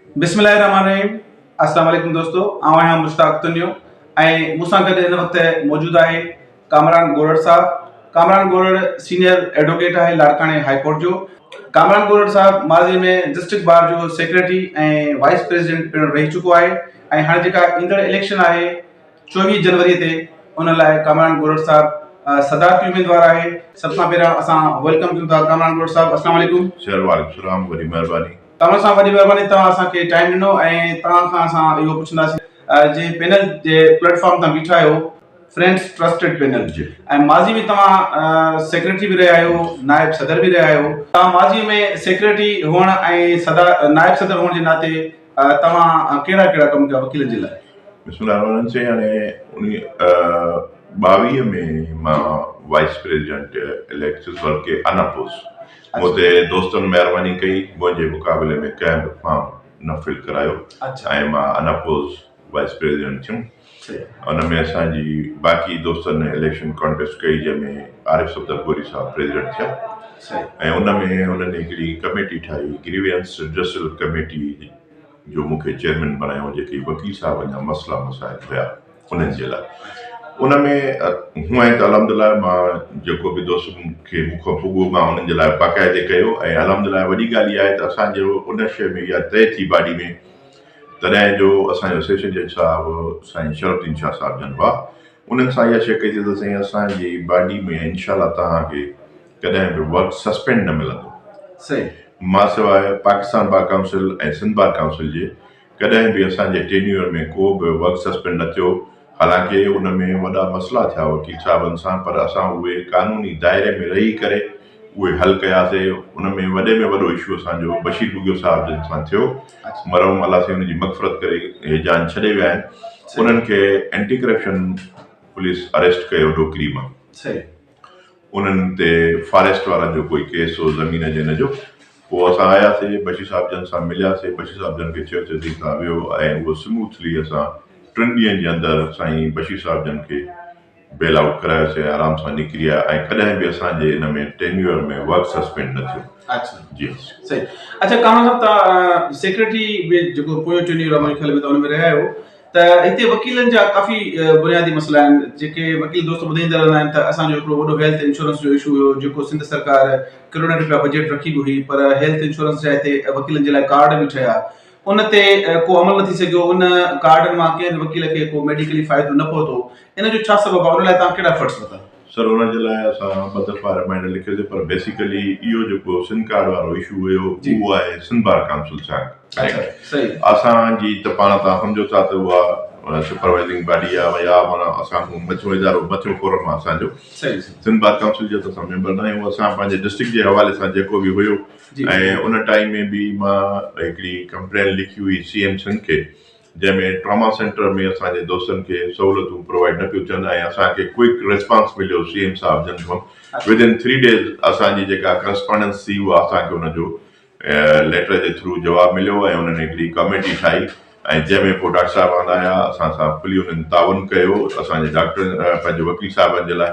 بسم الله الرحمٰن الرحيم السلام عليڪم دوستو آئون آهيان مشتاق تنيو ۽ مون سان گڏ هن وقت موجود آهي ڪامران گورڙ صاحب ڪامران گورڙ سينيئر ايڊووڪيٽ آهي لاڙڪاڻي هاء ڪورٽ جو ڪامران گورڙ صاحب ماضي ۾ ڊسٽرڪٽ بار جو سيڪريٽري ۽ وائيس پريزيڊنٽ پڻ رهي چڪو آهي ۽ هاڻي جيڪا ايندڙ اليڪشن آهي چويهه جنوري تي ان لاء ڪامران گورڙ صاحب صدارتي اميدوار آهي سڀ کان پهريان اسان ويلڪم ڪيون ٿا ڪامران گورڙ صاحب السلام عليڪم شهر وارڪ سلام وڏي مهرباني توهان سان وڏي مهرباني توهان اسان کي ٽائيم ڏنو ۽ توهان کان اسان اهو پڇنداسين جي پينل جي پليٽ فارم تان بيٺا آهيو فرينڊس ٽرسٽيڊ پينل جي ۽ ماضي ۾ توهان سيڪريٽري به رهيا آهيو نائب صدر به رهيا آهيو توهان ماضي ۾ سيڪريٽري هئڻ ۽ صدر نائب صدر هئڻ جي ناتي توهان ڪهڙا ڪهڙا ڪم ڪيا وڪيلن جي لاء بسم الله الرحمن الرحيم سائين هاڻي انهي ٻاويهه ۾ مان وائيس پريزيڊنٽ اليڪٽس ورڪي ان اپوز مون تي دوستن مهرباني ڪئي، منهنجي مقابلي ۾ ڪنهن به فارم نه فل ڪرايو ۽ مان اناپوز وائيس پريزيڊنٽ ٿيم. ان ۾ اسان جي باقي دوستن اليڪشن ڪانٽيسٽ ڪئي جنهن ۾ عارف صفدر گوري صاحب پريزيڊنٽ ٿيا ۽ ان ۾ انهن هڪڙي ڪميٽي ٺاهي گريوينس رڊسل ڪميٽي جو مون کي چيئرمين بڻايو جيڪي وڪيل صاحبن جا مسئلا مسائل هيا انهن جي لاء ان ۾ هونئن ته الحمد لله مان جيڪو به دوست کي مون کان پڳو مان انهن جي لاء باقاعدي ڪيو ۽ الحمد لله وڏي ڳالهه اها آهي ته اسان جو ان شيء ۾ اها طئي ٿي باڊي ۾ تڏهن جو اسان جو سيشن جج صاحب سائين شرف الدين شاهه صاحب جن هئا انهن سان اها شيء ڪئي ته سائين اسان جي باڊي ۾ انشاء الله توهان کي ڪڏهن به ورڪ سسپينڊ نه ملندو. صحيح. مان سواء Pakistan bar council ۽ Sindh bar council جي ڪڏهن به اسان جي ٽينيور ۾ ڪو به ورڪ سسپينڊ نه ٿيو حالانڪه ان ۾ وڏا مسئلا ٿيا وڪيل صاحبن سان پر اسان اهي قانوني دائري ۾ رهي ڪري اهي حل ڪياسي ان ۾ وڏي ۾ وڏو اشو اسان جو بشير ٻگهيو صاحب جن سان ٿيو مرحوم الله سائين ان جي مغفرت ڪري هي جان ڇڏي ويا آهن انهن کي اينٽي ڪرپشن پوليس اريسٽ ڪيو ڏوڪري مان انهن تي فاريسٽ وارن جو ڪوئي ڪيس هو زمين جن جو پوء اسان آياسي بشير صاحب جن سان ملياسي بشير صاحب جن کي چيو ته تون ويو ۽ اهو سموٿلي اسان ٽن ڏينهن جي اندر سائين بشير صاحب جن کي بيل آئوٽ ڪرايوسي ۽ آرام سان نڪري آيا ۽ ڪڏهن به اسان جي ان ۾ ٽينيوئر ۾ ورڪ سسپينڊ نه ٿيو. اچھا جي ھا سر. صحيح اچھا ڪامران صاحب توھان سيڪريٽري به جيڪو پويون ٽينيوئر آھي منھنجي خيال ۾ توھان ان ۾ رھيا آھيو ته ھتي وڪيلن جا ڪافي بنيادي مسئلا آھن جيڪي وڪيل دوست ٻڌائيندا رھندا آھن ته اسان جو ھڪڙو وڏو ھيلٿ انشورنس جو اشو ھيو جيڪو سنڌ سرڪار ڪروڙين رپيا بجيٽ رکي به ھئي پر ھيلٿ انشورنس جا ھتي وڪيلن جي لاء ڪارڊ به ٺھيا ان تي ڪو عمل نه ٿي سگهيو، ان ڪارڊن مان ڪنهن به وڪيل کي ڪو ميڊيڪلي فائدو نه پهتو، ان جو ڇا سبب آهي، ان لاء توهان ڪهڙا ايفرٽس ورتا؟ سر ان جي لاء اسان ٻه دفعا رمائنڊر لکيو سي پر بيسيڪلي اهو جيڪو سن ڪارڊ وارو اشو هيو اهو آهي سنڌ بار ڪائونسل سيانڪ ايڪٽ اسان جي ته پاڻ توهان سمجهو ٿا ته اها سپروائزنگ باڊي آهي يا معنيٰ اسان کان مٿيون ادارو مٿيون فورم آهي اسان جو سنڌ بار ڪائونسل جي ته اسان ميمبر نه آهيون اسان پنهنجي ڊسٽرڪٽ جي حوالي سان جيڪو به هيو ۽ ان ٽائيم ۾ به مان هڪڙي ڪمپلين لکي هئي سي ايم سنڌ کي جنهن ۾ ٽراما سينٽر ۾ اسان جي دوستن کي سهولتون پرووائيڊ نه پيون ٿين ۽ اسان کي ڪوئڪ ريسپانس مليو سي ايم صاحب جن کان ود ان ٿري ڊيز اسان جي جيڪا ڪرسپانڊنس ٿي اها اسان کي ان جو ليٽر جي ٿرو جواب مليو ۽ انهن هڪڙي ڪاميٽي ٺاهي ۽ جنهن ۾ پوء ڊاڪٽر صاحب آندا آيا اسان سان کلي انهن تعاون ڪيو اسان جي ڊاڪٽر پنهنجي وڪيل صاحبن جي لاء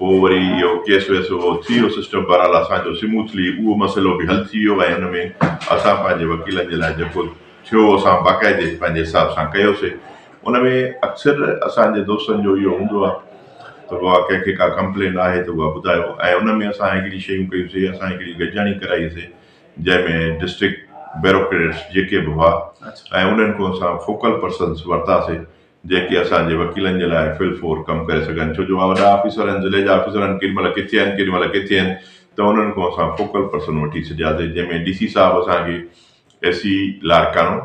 پوء وري اهو ڪيس ويس اهو ٿي ويو سسٽم بهرحال اسان جو سموٿلي اهو مسئلو به حل ٿي ويو ۽ ان ۾ اسان پنهنجي وڪيلن جي لاء جيڪو ٿيو اسان باقاعدي پنهنجي حساب سان ڪيوسي ان ۾ اڪثر اسان جي دوستن جو اهو هوندو آهي ته وا ڪنهن کي ڪا ڪمپلين آهي ته اها ٻڌايو ۽ ان ۾ اسان هڪڙي شيون ڪيون سي اسان هڪڙي گڏجاڻي ڪرائي سي جنهن ۾ ڊسٽرڪٽ بيروڪريٽس جيڪي به هئا ۽ انهن کان اسان فوڪل پرسنس ورتا سي جيڪي اسان جي وڪيلن جي لاء فل فور ڪم ڪري سگهن ڇو جو اها وڏا آفيسر آهن ضلعي جا آفيسر آهن ڪيڏي مهل ڪٿي آهن ڪيڏي مهل ڪٿي آهن ته انهن کان اسان فوڪل پرسن وٺي ڇڏياسي جنهن ۾ ڊي سي صاحب اسان کي اي سي لاڙڪاڻو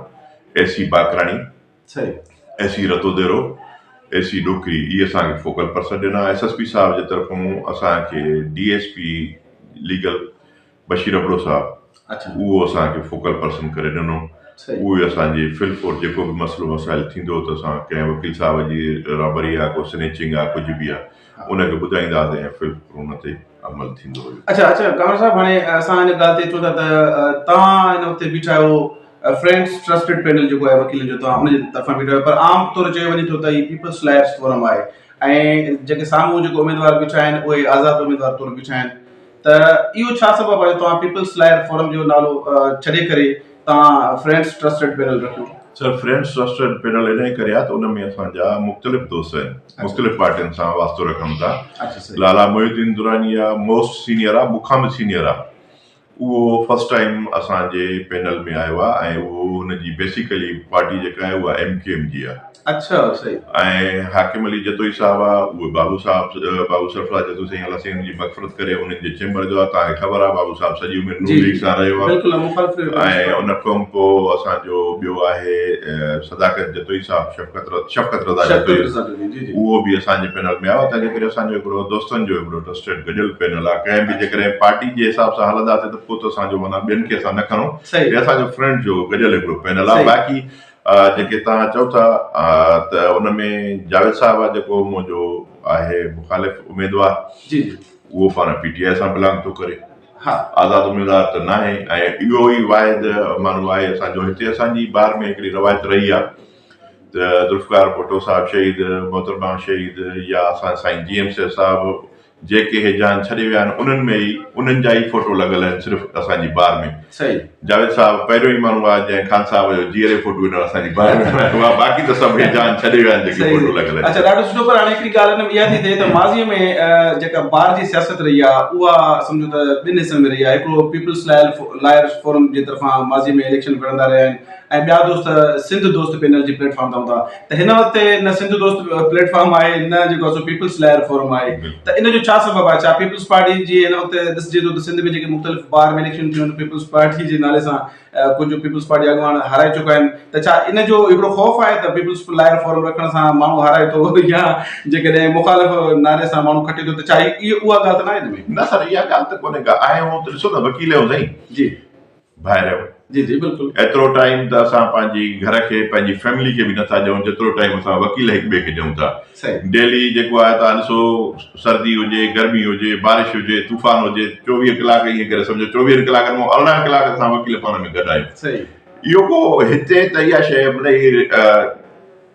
اي سي باکراڻي اي سي رتوديرو اي سي ڏوڪري اهي اسان کي فوڪل پرسن ڏنا ايس ايس پي صاحب جي طرفون اسان کي D S P legal Bashir Abro صاحب اهو اسان کي فوڪل پرسن ڪري ڏنو اهو اسان جي فل ڪورٽ جيڪو به مسئلو مسائل ٿيندو ته اسان ڪنهن وڪيل صاحب جي رابري آهي ڪو سنيچنگ آهي ڪجهه به آهي ان کي ٻڌائيندا هئاسين ۽ فل ان تي عمل ٿيندو هيو اچا اچا ڪامل صاحب هاڻي اسان هن ڳالهه تي اچون ٿا ته توهان هن وقت بيٺا آهيو فرينڊس ٽرسٽيڊ پينل جيڪو آهي وڪيلن جو توهان ان جي طرفان بيٺا آهيو پر عام طور چيو وڃي ٿو ته هي پيپلس لائرس فورم آهي ۽ جيڪي سامهون جيڪو اميدوار بيٺا آهن اهي آزاد اميدوار طور بيٺا آهن ته اهو ڇا سبب آهي جو توهان پيپلز لائر فورم جو نالو ڇڏي ڪري توهان فرينڊز ٽرسٽيڊ پينل رکيو؟ سر فرينڊز ٽرسٽيڊ پينل انهي ڪري آهي ته ان ۾ اسان جا مختلف دوست آهن مختلف پارٽين سان واسطو رکن ٿا لالا محي الدين دراني آهي موسٽ سينيئر آهي مون کان به سينيئر آهي اهو فرسٽ ٽائيم اسان جي پينل ۾ آيو آهي ۽ اهو ان جي بيسيڪلي پارٽي جيڪا آهي اها ايم ڪيو ايم جي آهي ۽ حاڪم علي جتوئي صاحب آ اهي بابو صاحب بابو سرفراز جتوئي سائين الله سائين ان جي مغفرت ڪري انهن جي چيمبر جو آ توهان کي خبر آ بابو صاحب سڄي عمر نون ليگ سان رهيو آ ۽ ان کان پو اسان جو ٻيو آهي صداقت جتوئي صاحب شفقت شفقت رضا جتوئي اهو به اسان جي پينل ۾ آيو تنهنجي ڪري اسان جو هڪڙو دوستن جو هڪڙو ٽرسٽيڊ گڏيل پينل آ ڪنهن به جيڪڏهن پارٽي جي حساب سان هلنداسين ته پو ته اسان جو معنيٰ ٻين کي اسان نه کڻو هي اسان جو فرينڊ جو گڏيل هڪڙو پينل آ باقي جيڪي توهان چئو ٿا ته ان ۾ جاويد صاحب آ جيڪو منهنجو آهي مخالف اميدوار جي جي اهو پاڻ پي ٽي آء سان بلانگ ٿو ڪري ها آزاد اميدوار ته ناهي ۽ اهو ئي واحد ماڻهو آهي اسان جو هتي اسان جي بار ۾ هڪڙي روايت رهي آ ته ذوالفقار ڀٽو صاحب شهيد محترمه شهيد يا اسان سائين جي ايم سيد صاحب جيڪي هي جهان ڇڏي ويا آهن انهن ۾ ئي انهن جا ئي فوٽو لڳل آهن صرف اسان جي بار ۾ جاويد صاحب پهريون ئي ماڻهو آهي جنهن خان صاحب جو جيئري فوٽو هينئر اسان جي بار ۾ هڻايو آهي باقي ته سڀ هي جهان ڇڏي ويا آهن جيڪي فوٽو لڳل آهن اچا ڏاڍو سٺو پر هاڻي هڪڙي ڳالهه هن ۾ اها ٿي ٿئي ته ماضي ۾ جيڪا بار جي سياست رهي آهي اها سمجهو ته ٻن حصن ۾ رهي آهي هڪڙو پيپلز لائرز فورم جي طرفان ماضي ۾ اليڪشن وڙهندا رهيا آهن ۽ ٻيا دوست سنڌ دوست پينل جي پليٽ فارم تان هوندا ته هن وقت نه سنڌ دوست پليٽ فارم آهي نه جيڪو اسو پيپلز لائر فورم آهي ته ان جو ڇا سبب آهي ڇا پيپلز پارٽي جي هن وقت ڏسجي ٿو ته سنڌ ۾ جيڪي مختلف بار ۾ اليڪشن ٿيون پيپلز پارٽي جي نالي سان ڪجهه پيپلز پارٽي اڳواڻ هارائي چڪا آهن ته ڇا ان جو هڪڙو خوف آهي ته پيپلز لائر فورم رکڻ سان ماڻهو هارائي ٿو يا جيڪڏهن مخالف نالي سان ماڻهو کٽي ٿو ته ڇا اها ڳالهه ته نه آهي نه سر اها ڳالهه ته ڪونهي ڪا آهي هو ته ڏسو ته وڪيل هو سائين جي ڀائرو، جي جي بلڪل. ايترو ٽائيم ته اسان پنهنجي گهر کي پنهنجي فيملي کي به نه ٿا ڏيون جيترو ٽائيم اسان وڪيل هڪ ٻئي کي ڏيون ٿا. صحيح. ڊيلي جيڪو آهي تان ڏسو سردي هجي گرمي هجي بارش هجي طوفان هجي چوويهه ڪلاڪ ائين ڪري سمجهو چوويهن ڪلاڪن مون ارڙهن ڪلاڪ اسان وڪيل پاڻ ۾ گڏ آهيون. صحيح. اهو ڪو هتي ته اها شيء مطلب هي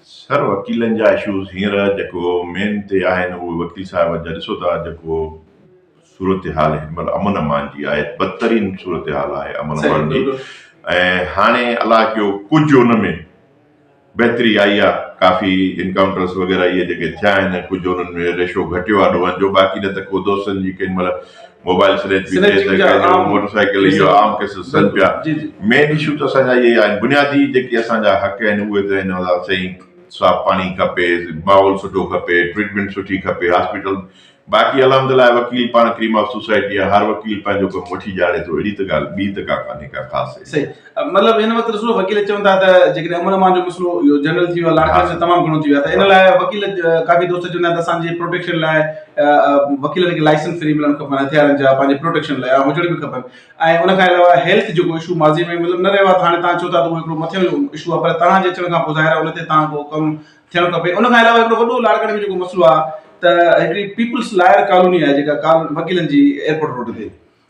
سر وڪيلن جا اشوز هينئر جيڪو مين تي آهن اهي وڪيل صاحب جا ڏسو ٿا جيڪو صورتحال هن مهل امن امان جي آهي بدترين صورتحال آهي امن امان جي ۽ هاڻي الله ڪيو ڪجهه ان ۾ بهتري آئي آهي ڪافي انڪائونٽرس وغيره اهي جيڪي ٿيا آهن ڪجهه انهن ۾ ريشو گهٽيو آهي ڏوهن جو باقي نه ته ڪو دوستن جي ڪين مهل موبائل سنيچ به ٿئي ٿو ۽ موٽر سائيڪل اهو عام ڪيس سڏن پيا مين اشو ته اسان جا اهي آهن بنيادي جيڪي اسان جا حق آهن اهي ته آهن سائين صاف پاڻي کپي ماحول سٺو کپي ٽريٽمينٽ سٺي کپي هاسپيٽل باقي الحمدلله وڪيل پاڻ ڪريم آف سوسائٽي آهي هر وڪيل پنهنجو ڪم وٺي ڄاڻي ٿو اهڙي ته ڳالهه ٻي ته ڪا ڪانهي ڪا خاص مطلب ان وقت رسول وڪيل چون ٿا ته جيڪڏهن امن امان جو مسئلو اهو جنرل ٿي ويو لاڙڪاڻي جو تمام گهڻو ٿي ويو ته ان لاء وڪيل ڪافي دوست چون ٿا ته اسان جي پروٽيڪشن لاء وڪيلن کي لائسنس فري ملڻ کپن هٿيارن جا پنهنجي پروٽيڪشن لاء هجڻ به کپن ۽ ان کان علاوه هيلٿ جيڪو ايشو ماضي ۾ مطلب نه رهيو هاڻي تان چون ٿا ته هڪڙو مٿيون جو ايشو آهي پر تان جي اچڻ کان پوء ظاهر آهي ان تي تان ڪو ڪم ٿيڻ کپي ان کان علاوه هڪڙو وڏو لاڙڪاڻي جو جيڪو مسئلو آهي ته هڪڙي پيپلس لائر ڪالوني آهي جيڪا وڪيلن جي ايئرپورٽ روڊ تي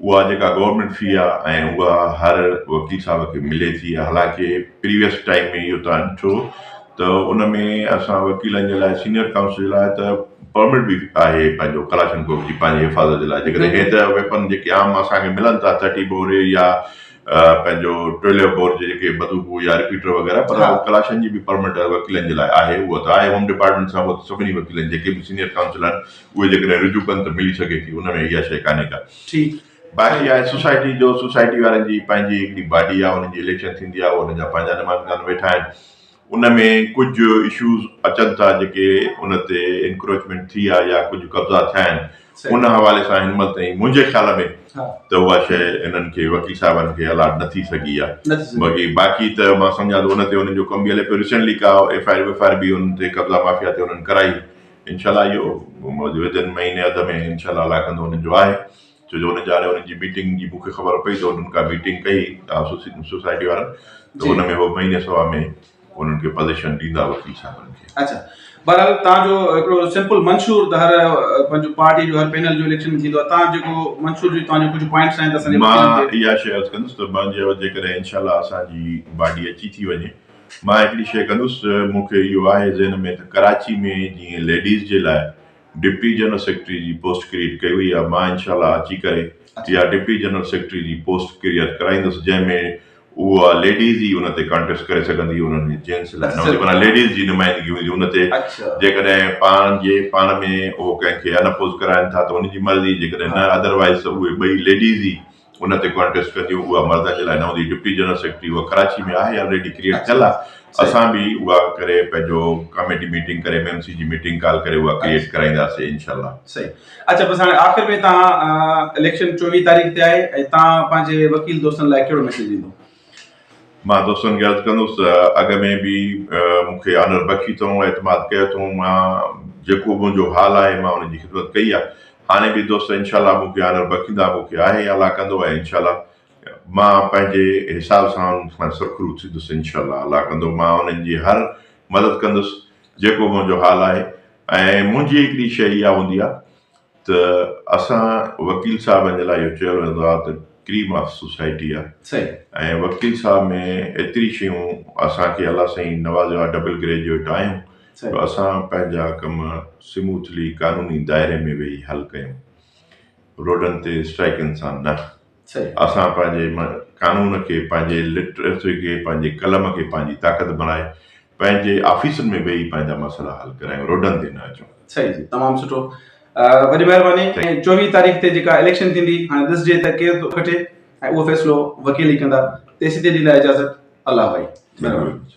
اها جيڪا گورنمينٽ في آ ۽ اها هر وڪيل صاحب کي ملي ٿي حالانڪه پريويس ٽائيم ۾ اهو توهان ڏٺو ته ان ۾ اسان وڪيلن جي لاء سينيئر ڪائونسل جي لاء ته پرمٽ به آهي پنهنجو ڪلاشن ڪوف جي پنهنجي حفاظت جي لاء جيڪڏهن هي ته ويپن جيڪي عام اسان کي ملن ٿا ٿرٽي بور يا پنهنجو ٽويلو بور جي جيڪي بدوقو يا رپيٽر وغيره پر ڪلاشن جي به پرمٽ وڪيلن جي لاء آهي اها ته آهي هوم ڊپارٽمينٽ سان سڀني وڪيلن جيڪي به سينيئر ڪائونسل آهن اهي جيڪڏهن رجوع ڪن ته ملي سگهي ٿي، ان ۾ اها شيء ڪانهي ڪا. ٺيڪ. باقي آهي سوسائٽي جو، سوسائٽي وارن جي پنهنجي هڪڙي باڊي آهي، انهن جي اليڪشن ٿيندي آهي، انهن جا پنهنجا نمائندگان ويٺا آهن، ان ۾ ڪجهه اشوز اچن ٿا جيڪي ان تي انڪروچمينٽ ٿي آهي يا ڪجهه قبضا ٿيا آهن، ان حوالي سان هنمهل تائين منهنجي خيال ۾ ته اها شيء هنن کي وڪيل صاحبن کي الاٽ نه ٿي سگهي آهي، باقي باقي ته مان سمجهان ٿو ان تي انهن جو ڪم به هلي پيو، ريسينٽلي ڪا F I R ويف I R به انهن تي قبضا مافيا تي انهن ڪرائي. انشاء الله اهو ويندڙ مهيني اڌ ۾ انشاء الله اعليٰ ڪندو وڃڻ جو آهي ڇو جو ان جي هاڻي ان جي ميٽنگ جي مون کي خبر پئي ته انهن ڪا ميٽنگ ڪئي سوسي- سوسائٽي وارن ته جي. ان ۾ هو مهيني سوا ۾ انهن کي پوزيشن ڏيندا وڪيل صاحبن کي اچھا بهرحال تان جو هڪڙو سمپل منشور ته هر آه، پنهنجو پارٽي جو هر پينل جو اليڪشن ۾ ٿيندو آهي تان جيڪو منشور جو تان جو ڪجهه پوائنٽس آهن ته اسان جي مان وڪيلن کي اها شيء عرض ڪندس ته مان جي جيڪڏهن انشاء الله اسان جي باڊي اچي ٿي وڃي مان هڪڙي شيء ڪندس، مون کي اهو آهي ذهن ۾ ته ڪراچي ۾ جيئن ليڊيز جي لاء ڊپٽي جنرل سيڪريٽري جي پوسٽ ڪريئيٽ ڪئي وئي آهي، مان انشاء الله اچي ڪري اها ڊپٽي جنرل سيڪريٽري جي پوسٽ ڪريئيٽ ڪرائيندس جنهن ۾ اها ليڊيز ئي ان تي ڪانٽيسٽ ڪري سگهندي، انهن ۾ جينٽس لاء نه هوندي، معنيٰ ليڊيز جي نمائندگي هوندي ان تي، جيڪڏهن پاڻ جي پاڻ ۾ اهو ڪنهن کي ان اپوز ڪرائين ٿا ته ان جي مرضي، جيڪڏهن نه ادروائيز ته اهي ٻئي ليڊيز ئي ان تي ڪانٽيسٽ ڪنديون اها مرد جي لاء نه هوندي ڊپٽي جنرل سيڪريٽري اها ڪراچي ۾ آهي آلريڊي ڪريٽ ٿيل آهي اسان به اها ڪري پنهنجو ڪاميٽي ميٽنگ ڪري ايم ايم سي جي ميٽنگ ڪال ڪري اها ڪريٽ ڪرائينداسي انشاء الله صحيح اچھا بس هاڻي آخر ۾ تان اليڪشن چوويهه تاريخ تي آهي ۽ تان پنهنجي وڪيل دوستن لاء ڪهڙو ميسيج ڏيندو مان دوستن کي عرض ڪندس ته اڳ ۾ به مون کي آنر بخشي اٿئون، اعتماد ڪيو اٿئون، مان جيڪو به منهنجو حال آهي مان ان جي خدمت ڪئي آهي، هاڻي به دوست انشاء الله مون کي آنر بخشيندا، مون کي آهي الله ڪندو ۽ انشاء الله مان پنهنجي حساب سان انهن کان سرخرو ٿيندس انشاء الله الله ڪندو مان انهن جي هر مدد ڪندس جيڪو به منهنجو حال آهي ۽ منهنجي هڪڙي شيء اها هوندي آهي ته اسان وڪيل صاحبن جي لاء اهو چيو ويندو آهي ته ڪريم آف سوسائٽي آهي صحيح ۽ وڪيل صاحب ۾ ايتري شيون اسان کي الله سائين نوازيو آهي ڊبل گريجويٽ آهيون جو اسان پنهنجا ڪم سموٿلي قانوني دائري ۾ ويهي حل ڪيون روڊن تي اسٽرائيڪن سان نه اسان پنهنجي قانون کي، پنهنجي لٽريسي کي، پنهنجي قلم کي پنهنجي طاقت بڻائي پنهنجي آفيسن ۾ ويهي پنهنجا مسئلا حل ڪرايون، روڊن تي نه اچون. صحيح جي تمام سٺو وڏي مهرباني ۽ چوويهه تاريخ تي جيڪا اليڪشن ٿيندي هاڻي ڏسجي ته ڪير ٿو کٽي ۽ اهو فيصلو وڪيل ئي ڪندا تيسين تيڏي لاء اجازت الله ڀائي مهرباني.